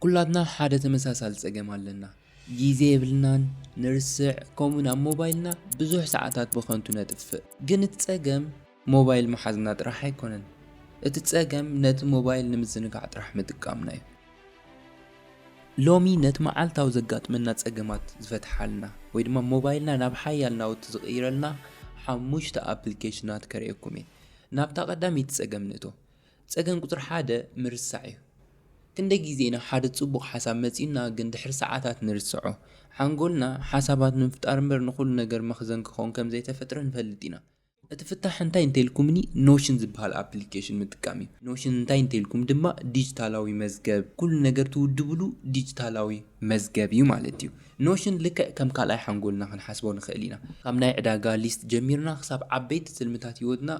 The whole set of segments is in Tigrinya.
ኩላትና ሓደ ተመሳሳሊ ጸገም ኣለና ግዜ የብልናን ንርስዕ ከምኡውን ኣብ ሞባይልና ብዙሕ ሰዓታት ብኸንቱ ነጥፍእ ግን እቲ ጸገም ሞባይል ምሓዝና ጥራሕ ኣይኮነን እቲ ጸገም ነቲ ሞባይል ንምዝንጋዕ ጥራሕ ምጥቃምና እዩ። ሎሚ ነቲ መዓልታዊ ዘጋጥመና ጸገማት ዝፈትሓልና ወይ ድማ ሞባይልና ናብ ሓያል ናውቲ ዝቕይረልና ሓሙሽተ ኣፕሊኬሽናት ከርእየኩም እየ። ናብታ ቀዳመይቲ ጸገም ንእቶ። ጸገም ቁጽሪ ሓደ ምርሳዕ እዩ። ክንደይ ግዜ ኢና ሓደ ጽቡቕ ሓሳብ መጺኡና ግን ድሕሪ ሰዓታት ንርስዖ። ሓንጎልና ሓሳባት ንምፍጣር እምበር ንኹሉ ነገር መኽዘን ክኸውን ከም ዘይተፈጥረ ንፈልጥ ኢና። እቲ ፍታሕ እንታይ እንተኢልኩምኒ ኖሽን ዝበሃል ኣፕሊኬሽን ምጥቃም እዩ። ኖሽን እንታይ እንተኢልኩም ድማ ዲጂታላዊ መዝገብ፣ ኩሉ ነገር ትውድብሉ ዲጂታላዊ መዝገብ እዩ ማለት እዩ። ኖሽን ልክዕ ከም ካልኣይ ሓንጎልና ክንሓስቦ ንኽእል ኢና። ካብ ናይ ዕዳጋ ሊስት ጀሚርና ክሳብ ዓበይቲ ትልምታት ህይወትና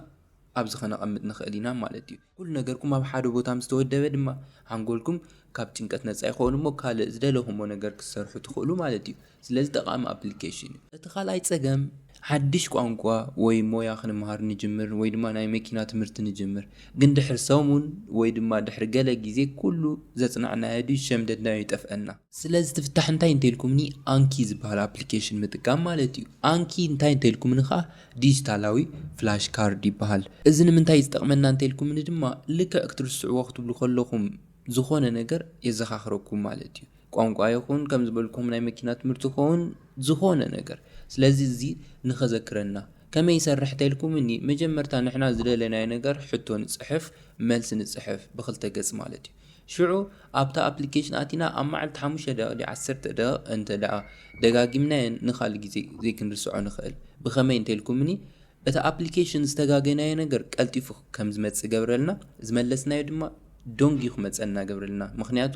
ኣብዚ ከነቐምጥ ንኽእል ኢና ማለት እዩ። ኩሉ ነገርኩም ኣብ ሓደ ቦታ ምስ ተወደበ ድማ ሓንጎልኩም ካብ ጭንቀት ነጻ ይኸውን እሞ ካልእ ዝደለኹሞ ነገር ክትሰርሑ ትኽእሉ ማለት እዩ። ስለዚ ጠቓሚ ኣፕሊኬሽን እዩ። እቲ ካልኣይ ጸገም ሓድሽ ቋንቋ ወይ ሞያ ክንመሃር ንጅምር ወይ ድማ ናይ መኪና ትምህርቲ ንጅምር ግን ድሕሪ ሰሙን ወይ ድማ ድሕሪ ገለ ግዜ ኩሉ ዘጽናዕናዮ ድዩ ሸምደድናዮ ይጠፍኣና። ስለዚ እቲ ፍታሕ እንታይ እንተኢልኩምኒ ኣንኪ ዝበሃል ኣፕሊኬሽን ምጥቃም ማለት እዩ። ኣንኪ እንታይ እንተኢልኩምኒ ከኣ ዲጂታላዊ ፍላሽ ካርድ ይበሃል። እዚ ንምንታይ እዩ ዝጠቕመና እንተኢልኩምኒ ድማ ልክዕ ክትርስዕዎ ክትብሉ ከለኹም ዝኾነ ነገር የዘኻኽረኩም ማለት እዩ። ቋንቋ ይኹን ከም ዝበልኩም ናይ መኪና ትምህርቲ ክኸውን ዝኾነ ነገር ስለዚ እዚ ንኸዘክረና ከመይ ይሰርሕ እንተኢልኩምኒ መጀመርታ ንሕና ዝደለናዮ ነገር ሕቶ ንጽሕፍ መልሲ ንጽሕፍ ብኽልተ ገጽ ማለት እዩ። ሽዑ ኣብታ ኣፕሊኬሽን ኣቲና ኣብ መዓልቲ ሓሙሽተ ደቂቅ ድዩ ዓሰርተ ደቂቅ እንተ ደጋጊምናዮ ንካልእ ግዜ ዘይክንርስዖ ንክእል ብከመይ እንተልኩምኒ እቲ ኣፕሊኬሽን ዝተጋገናዮ ነገር ቀልጢፉ ከምዝመጽእ ገብረልና ዝመለስናዮ ድማ ዶንጊዩ ክመጸና ገብረልና ምክንያቱ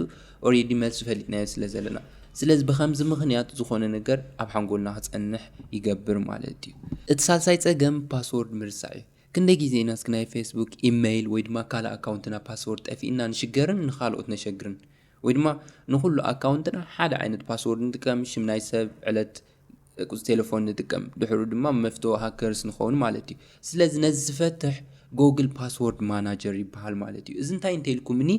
ኦሬዲ መልሱ ፈሊጥናዮ ስለ ዘለና ስለዚ ብከምዚ ምክንያት ዝኮነ ነገር ኣብ ሓንጎልና ክጸንሕ ይገብር ማለት እዩ። እቲ ሳልሳይ ጸገም ፓስዎርድ ምርሳዕ እዩ። ክንደይ ግዜ ኢና እስኪ ናይ ፌስቡክ፣ ኢመይል ወይ ድማ ካልእ ኣካውንትና ፓስዎርድ ጠፊእና ንሽገርን ንኻልኦት ነሸግርን? ወይ ድማ ንኹሉ ኣካውንትና ሓደ ዓይነት ፓስዎርድ ንጥቀም፣ ሽም ናይ ሰብ፣ ዕለት፣ ቁጽሪ ቴለፎን ንጥቀም፣ ድሕሩ ድማ መፍቶ ሃከርስ ንኸውን ማለት እዩ። ስለዚ ነዚ ዝፈትሕ ጎግል ፓስዎርድ ማናጀር ይበሃል ማለት እዩ። እዚ እንታይ እንተኢልኩምኒ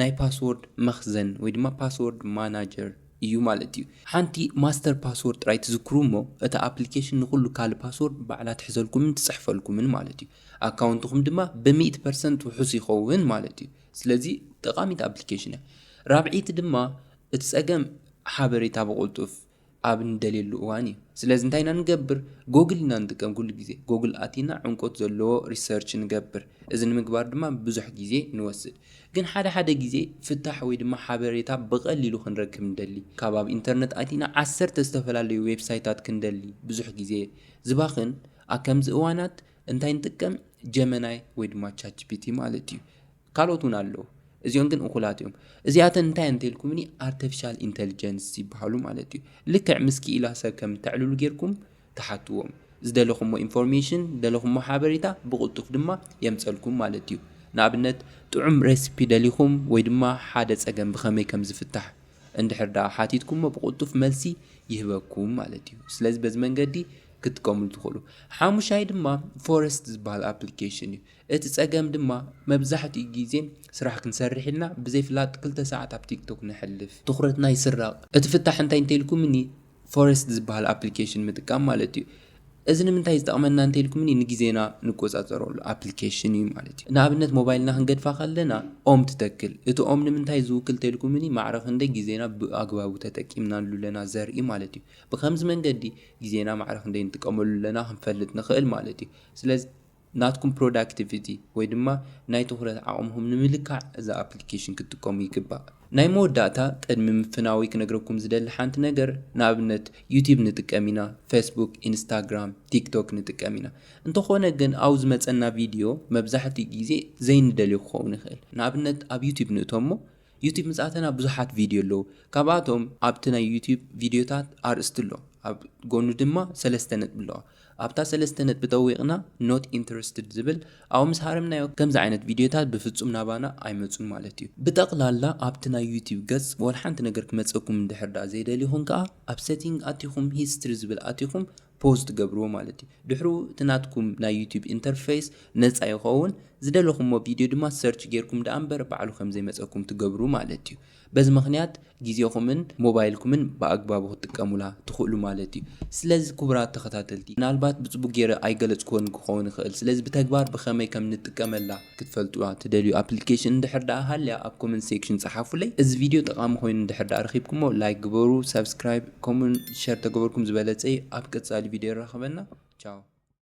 ናይ ፓስዎርድ መኽዘን ወይ ድማ ፓስዎርድ ማናጀር፣ እዩ ማለት እዩ። ሓንቲ ማስተር ፓስዎርድ ጥራይ ትዝክሩ እሞ እታ ኣፕሊኬሽን ንኹሉ ካልእ ፓስዎርድ ባዕላ ትሕዘልኩምን ትጽሕፈልኩምን ማለት እዩ። ኣካውንትኹም ድማ ብሚእቲ ፐርሰንት ውሑስ ይኸውን ማለት እዩ። ስለዚ ጠቓሚት ኣፕሊኬሽን እያ። ራብዐይቲ ድማ እቲ ጸገም ሓበሬታ ብቕልጡፍ ኣብ እንደልየሉ እዋን እዩ። ስለዚ እንታይ ኢና ንገብር? ጎግል ኢና ንጥቀም ኩሉ ግዜ። ጎግል ኣቲና ዕምቆት ዘለዎ ሪሰርች ንገብር። እዚ ንምግባር ድማ ብዙሕ ግዜ ንወስድ። ግን ሓደ ሓደ ግዜ ፍታሕ ወይ ድማ ሓበሬታ ብቐሊሉ ክንረክብ ንደሊ። ካብ ኣብ ኢንተርነት ኣቲና ዓሰርተ ዝተፈላለዩ ዌብሳይታት ክንደሊ ብዙሕ ግዜ ዝባኽን ኣብ ከምዚ እዋናት እንታይ ንጥቀም ጀመናይ ወይ ድማ ቻትጂፒቲ ማለት እዩ ካልኦት እውን ኣለዉ እዚኦም ግን እኹላት እዮም እዚኣተን እንታይ እየን እንተልኩምኒ ኣርተፊሻል ኢንተልጀንስ ይበሃሉ ማለት እዩ ልክዕ ምስ ክኢላ ሰብ ከም እተዕልሉ ጌርኩም ትሓትዎም ዝደለኹሞ ኢንፎርሜሽን ዝደለኹሞ ሓበሬታ ብቕልጡፍ ድማ የምጸልኩም ማለት እዩ። ንኣብነት ጥዑም ሬሲፒ ደሊኹም ወይ ድማ ሓደ ጸገም ብኸመይ ከም ዝፍታሕ እንድሕር ድኣ ሓቲትኩሞ ብቕልጡፍ መልሲ ይህበኩም ማለት እዩ። ስለዚ በዚ መንገዲ ክትጥቀምሉ ትኽእሉ። ሓሙሻይ ድማ ፎረስት ዝበሃል ኣፕሊኬሽን እዩ። እቲ ጸገም ድማ መብዛሕትኡ ግዜ ስራሕ ክንሰርሕ ኢልና ብዘይፍላጥ ክልተ ሰዓት ኣብ ቲክቶክ ነሕልፍ። ትኹረትና ይስረቕ። እቲ ፍታሕ እንታይ እንተኢልኩምኒ ፎረስት ዝብሃል ኣፕሊኬሽን ምጥቃም ማለት እዩ። እዚ ንምንታይ እዩ ዝጠቕመና እንተኢልኩምኒ ንግዜና ንቆጻጸረሉ ኣፕሊኬሽን እዩ ማለት እዩ። ንኣብነት ሞባይልና ክንገድፋ ከለና ኦም ትተክል። እቲ ኦም ንምንታይ ዝውክል እንተኢልኩምኒ ማዕረ ክንደይ ግዜና ብኣግባቡ ተጠቂምናሉ ኣለና ዘርኢ ማለት እዩ። ብኸምዚ መንገዲ ግዜና ማዕረ ክንደይ ንጥቀመሉ ኣለና ክንፈልጥ ንኽእል ማለት እዩ። ስለዚ። ናትኩም ፕሮዳክቲቪቲ ወይ ድማ ናይ ትኹረት ዓቕምኹም ንምልካዕ እዛ ኣፕሊኬሽን ክትጥቀሙ ይግባእ። ናይ መወዳእታ ቅድሚ ምፍናወይ ክነግረኩም ዝደሊ ሓንቲ ነገር ንኣብነት ዩቲብ ንጥቀም ኢና ፌስቡክ ኢንስታግራም ቲክቶክ ንጥቀም ኢና እንተኾነ ግን ኣብኡ ዝመጸና ቪድዮ መብዛሕትኡ ግዜ ዘይንደልዮ ክኸውን ይኽእል ንኣብነት ኣብ ዩቲብ ንእቶ እሞ ዩቱብ ምጻተና ብዙሓት ቪድዮ ኣለዉ ካብኣቶም ኣብቲ ናይ ዩቱብ ቪድዮታት ኣርእስቲ ኣሎ ኣብ ጎኑ ድማ ሰለስተ ነጥቢ ኣለዋ ኣብታ ሰለስተ ነጥቢ ጠዊቅና ኖት ኢንተረስትድ ዝብል ኣብኡ ምስ ሃረምናዮ ከምዚ ዓይነት ቪድዮታት ብፍጹም ናባና ኣይመጹን ማለት እዩ ብጠቅላላ ኣብቲ ናይ ዩቱብ ገጽ ወላ ሓንቲ ነገር ክመጸኩም እንድሕር ደኣ ዘይደሊኹም ከኣ ኣብ ሰቲንግ ኣቲኹም ሂስትሪ ዝብል ኣቲኹም ፖዝ ትገብርዎ ማለት እዩ ድሕሩ እቲ ናትኩም ናይ ዩቱብ ኢንተርፈይስ ነጻ ይኸውን ዝደለኹሞ ቪድዮ ድማ ሰርች ጌርኩም ደኣ እምበር ባዕሉ ከምዘይመጸኩም ትገብሩ ማለት እዩ በዚ ምኽንያት ግዜኹምን ሞባይልኩምን ብኣግባቡ ክትጥቀሙላ ትኽእሉ ማለት እዩ ስለዚ ክቡራት ተኸታተልቲ ምናልባት ብጽቡቅ ጌረ ኣይገለጽክዎን ክኸውን ይኽእል ስለዚ ብተግባር ብኸመይ ከም ንጥቀመላ ክትፈልጥዋ ትደልዩ ኣፕሊኬሽን እንድሕር ደኣ ሃልያ ኣብ ኮመንት ሴክሽን ጸሓፉለይ። እዚ ቪድዮ ጠቓሚ ኮይኑ እንድሕር ደኣ ረኺብኩሞ ላይክ ግበሩ ሳብስክራይብ ከምኡውን ሸር ተገበርኩም ዝበለጸ እዩ። ኣብ ቀጻሊ ቪድዮ የራኽበና ቻው።